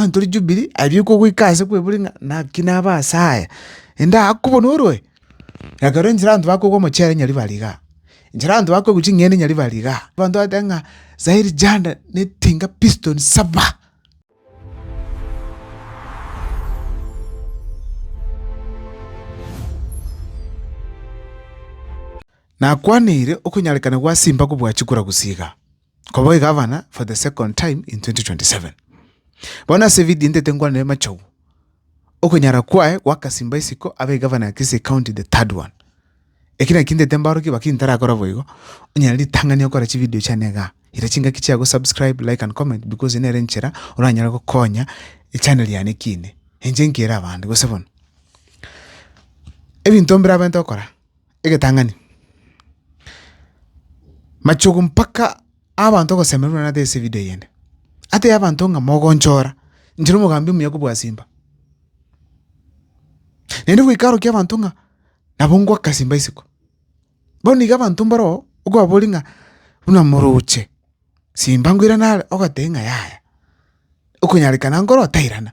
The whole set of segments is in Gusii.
Mani tore Jubili, aria okogoika aase kwebori ng'a naki nabe aase aya, inde akobonorwe. Ekero enchera abanto bakogwa omochere nyari bare igaa, enchera abanto bakoigwa ching'ende nyari bare igaa, abanto bagoteeba ng'a saa eri janda ne tinga piston saba. Nakwaniire okonyarekana gwa Simba kobua chikura gusii igaa. koba egavana for the second time in 2027. Bono ase evidio intete nkwanere Machogu, okonyara kwaye gwakasimba isiko abe egavana ya Kisii County the third one. Eki naki intete mbaorokia baki ntarakora boigo, onyare ritang'ani okore chividio chiane igaa. Ira chingaki chia gosubscribe, like and comment because eye nere enchera oranyare gokonya echaneri yane ekiine. Inche nkere abanto gose bono. Ebinto mbirabete gokora. egetang'ani. Machogu mpaka abanto ogosemeria buna ase evidio eyende, atebia abanto ng'a mogonchora inche na omogambi omuya kobua simba. Naende goika arokia abanto ng'a nabo ngoaka simba isiko. Bono iga abanto mbaro okobaboria ng'a buna moroche simba nkoirana are, ogoteba ng'a yaya, okonyarekana nkoro tairana.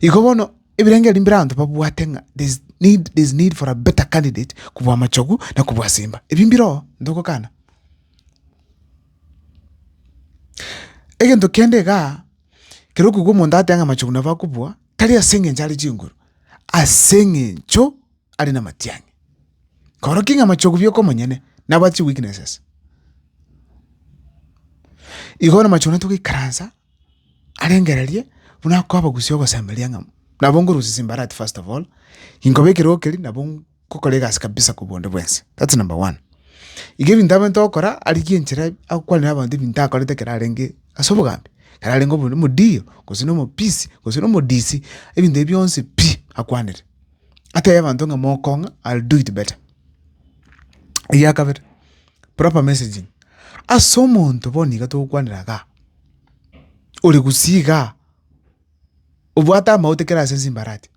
Igo bono ebirengererio mbire abanto babwate ng'a there is need, there is need for a better candidate kobua Machogu na kobua Simba, ebio mbire oo ntogokana. Egento kende igaa, ekero okoigwa omonto agoteeba ng'a Machogu nabo akobua, tari ase eng'encho are chinguru, ase eng'encho are namatiang'i. Koroki ng'a Machogu bioka omonyene, nabwate chiweaknesses. Igo bono Machogu natogoikaransa arengererie buna akobagusia ogosemeria ng'a nabo nkorusia chimbarati first of all, inkoba ekerogo keria nabo nkokora egasi kabisa korwa onde bwensi, that's number one. Iga ebinto abwenerete gokora arigie enchera akwane nabanto ebinto akorete ekero arenge ase obogambi, ekero arenge omo- omodiyo, gose na omopisi, gose na omodisi, ebinto ebio bionsi pi! akwanere, atebe abanto ng'a mokong'a, I'll do it better. Ekiagakabere, proper messaging, ase omonto bono niga togokwanera igaa, ore gusii igaa, obwate amagote kera ase nsimbarati,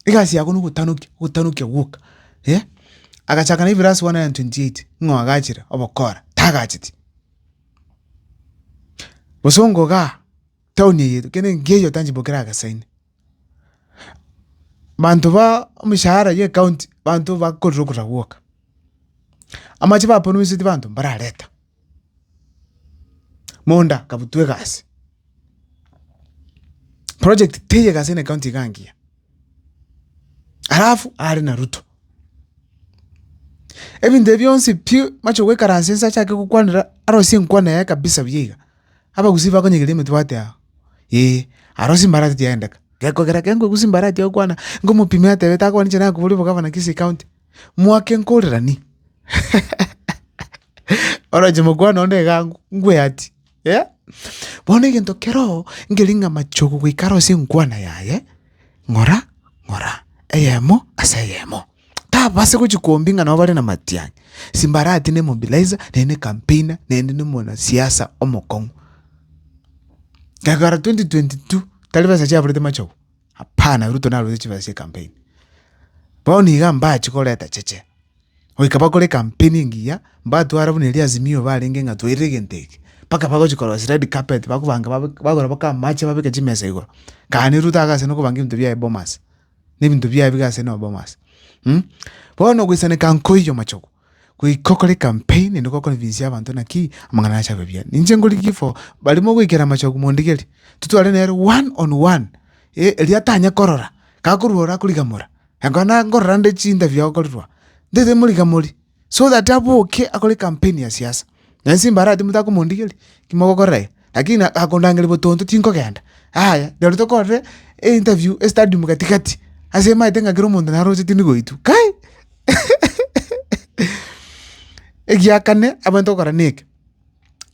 egasi yago na ogotanokia ogotanokia gwoka agachaka na ebiras one hundred and twenty eight ng'o agachire obokora tagacheti. Bosongo igaa, town eye kende nkeiyo tanchiboki ragesaine. Manto baa emeshahara ye county banto bakorire okosaba gwoka. Amache ba promiseti banto mbarareta. Monda kabutwe egasi. Project teye egasi ne county iga ngiya. Alafu are na ruto. Ebinto bionsi pi mache goikaranse inse achake gokwanera arosie enkwana yaye kabisa buya iga. Abagusii bakonyegeria emetwe bateaa. ee, aro chimbarati chiaendeka. Gekogera kere nkoigwa chimbarati ogokwana, nkomopima etebe takobani inche nakoboria obogavana kisi county, mwaka enkorerani? Oroche mokwana onde iga ango, nkweyati, eh? Bono egento keroo, nkeria ng'a machogo goika aro ase enkwana yaye, ng'ora ng'ora, eyemo ase eyemo. Tababasa gochia kombinga nabo bare namatianyi, simbarati ne mobilizer naende ne campaigner naende ne omwanasiasa omokong'u. Egara twenty twenty two tari besa chiaburete machogu, hapana ruto narorete chibesa chia ecampaign. Bono iga mbachi koreta cheche, goika bakore ecampaign engiya mbatwara buna eria Azimio barenge ng'a twairire egento eke, mpaka bagochi korosia red carpet bakobanga babe bagora mpaka amache babeke chimesa igoro. Kare Ruto agase nokobanga ebinto biaye Bomas, na ebinto biaye biga ase nobomo ase. Bono goisaneka nkoiyo amachogo, goika okore ekampeni naende gokonvinsia abanto naki amang'ana naye ache abe buya. Ninche nkorigie for barimo goikera amachogo mondigerie, totware nere one on one, erio atanye korora, kakorwa ore akorigamora, ekero nakorora nde chintabi agokorirwa, ntaete morigamorie. so that aboke akore campaign ya siasa, na inse imbarati motakomondigeria, ki mogokora eye, lakini akondangeria botonto tinkogenda, yaya rirorio tokorire einterview estadium gati gati, ase maete ng'a kera omonto naroche tindi goitwa kai Egia kane abanto gokora neke,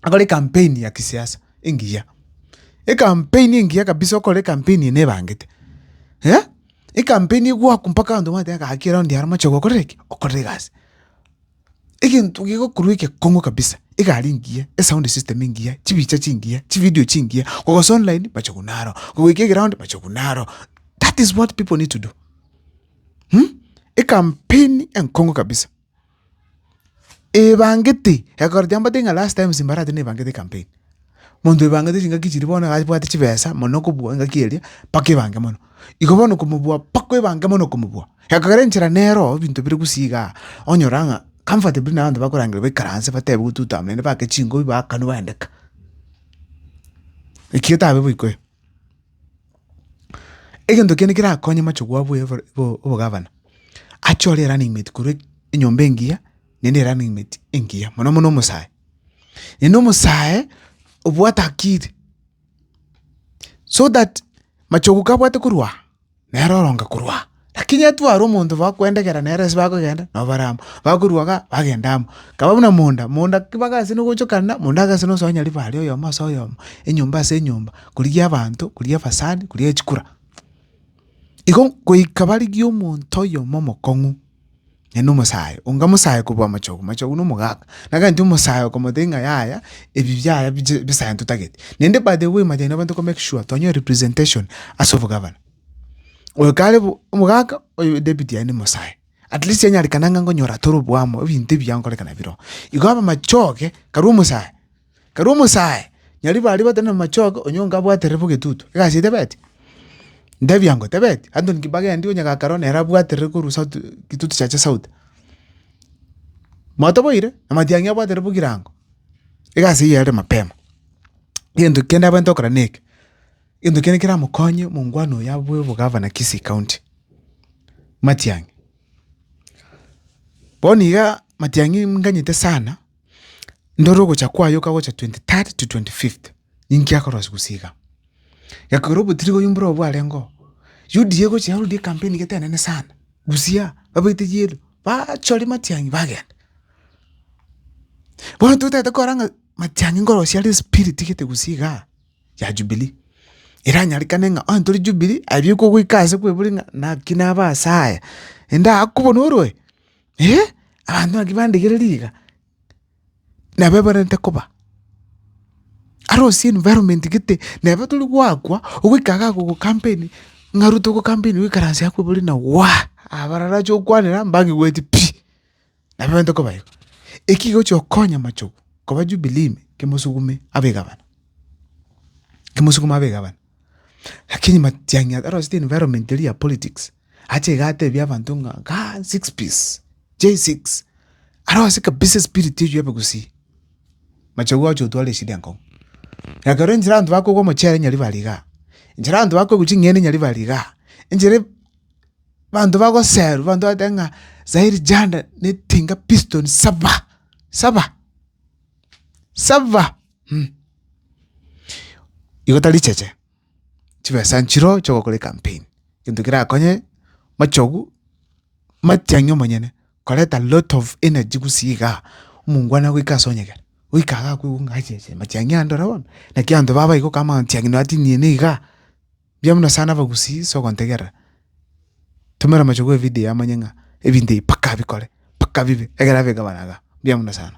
akore campaign ya kisiasa engiya, ecampaign engiya kabisa okore ecampaign eye nebangete eh. Ekampeni egwakwa mpaka abanto bamanyete ng'a gaki ere onde are omoche gokorera ki? Okorera egasi. Egento gegokorwa egekong'u kabisa, egari engiya, esound system engiya, chibicha chingiya, chividio chingiya, kogosa online bacha korwa naro, kogoika egeround bacha korwa naro, that is what people need to do, ekampeni enkong'u kabisa. Ebangete, egekogera chiamborete ng'a last times mbarabate nebangete ecampaign, monto oebangete chingaki chiria bono abwate chibesa mono okobua engaki eria mpaka ebange mono. Igo bono okomobua mpaka ebange mono okomobua, egekogera enchera nero ebinto bire gusii igaa, onyora ng'a comfortably na abanto bakorangerwa baikaranse batebe gotutam naende bake chingobi baakanu baende ka. Eki etabe boikoyo. Egento kende kerakonye machogu abo ya obogavana, ache ore running mate korwa enyomba engiya naende erunning mate engiya mono mono omosae. Naende omosae obwate akiri so that machogu kabwate korwa aa. Nere oro ngakorwa aa. Lakini etware omonto bakwendegera nere ase bakogenda, nabo bare amo, bakorwa igaa, bagenda amo. Kaba buna monda, monda ki bagasena ogochokanera, monda agasena osonya ribare oyomo ase oyomo, enyomba ase enyomba, korigia abanto, korigia ebasani, korigia echikura. Igo goika barigie omonto oyomo omokong'u. Naende omosae onga mosae kobua amachogu, amachogu na omogaka, nagante omosae okomotebia ng'a yaya ebi biaya biche bisae ntotagete. Naende by the way manyete nainwe toko make sure twanyora representation ase obogavana. Oyo kare bo omogaka, oyo deputy yaye nomosae, at least anyare kana ng'a nkonyora toro obwamo ebinto ebiya nkorekana bire oo. Igo abamachoge, karu omosae. Ekero omosae nyaribo aria bateneine amachoka, onye onga abwate rebo getutu, egasi etebeti? Ntebia ngo tebeti, anto inki bagendi onye gakare one ere abwate rebo korwa sauti gitutu chiacha sauti. Motoboire? Amatiang'i abwate rebo kirango. Egasi eye ere mapema. Gento kende abwenerete gokora neke, gento kende keramokonye omongwana oyo abwo obogavana Kisii county, matiang'i. Bono iga matiang'i nganyete sana. ndore ogocha kwaye okagocha twenty third to twenty fifth, ninki akorwa ase gose iga. Gekogera obotiri oyio mborobwo bwarengeo, UDA egocha yarorire ekampeni gete enene sana, Busia babaite yellow, bachore Matiang'i bagenda. Bono totagete korora ng'a Matiang'i nkorosia are spirit gete gose igaa, ya Jubilee, eranyarekane ng'a onye tore Jubilee, aye bieka ogoika ase kwebori ng'a naki nabe asaya, ende akobono oroe. Abanto naki bandegereria iga, nabo ebarente koba. Are ase environment gete, nabo tori goakwa, ogoika iga agogocampaign, ng'a ruto ogocampaign oikaranse akwebore na waa, abarara ache gokwanera mbang'igweti pi, nabo ebarente koba igo. Eki gochi okonya amachogo, koba jubilee ime, kemosugume abe egavana, kemosugume abe egavana. Lakini matiang'i aro ase environment eria ya politics. Ache iga atebie abanto ng'a kaa six piece chai six arose kabisa espirit eywo ebe gusii. Machagua oche otware eshida enkong'u. Ekero enchera abanto bakogwa omochere nyari bare igaa, enchera abanto bakoigwa ching'ende nyari bare igaa, enchera abanto bagoserwa abanto bagotebi ng'a sairi janda netinga piston saba, saba, saba, igo tari cheche. chibesa nchiro chi'ogokora ecampaign, egento kerakonye machogu matiang'i omonyene koreta lot of energy gusii igaa, omongwana goika ase onyegere, goika igaa akoigwa ng'a achiche matiang'i ande ororo bono, naki abanto babo baigokwa amatiang'i nonya tiniena igaa, mbuya buna sana abagusii sogontegerera, tumera amachogu evidio amanye ng'a ebinto ebi mpaka abikore, mpaka bibe, egere abigabane igaa, mbuya buna sana.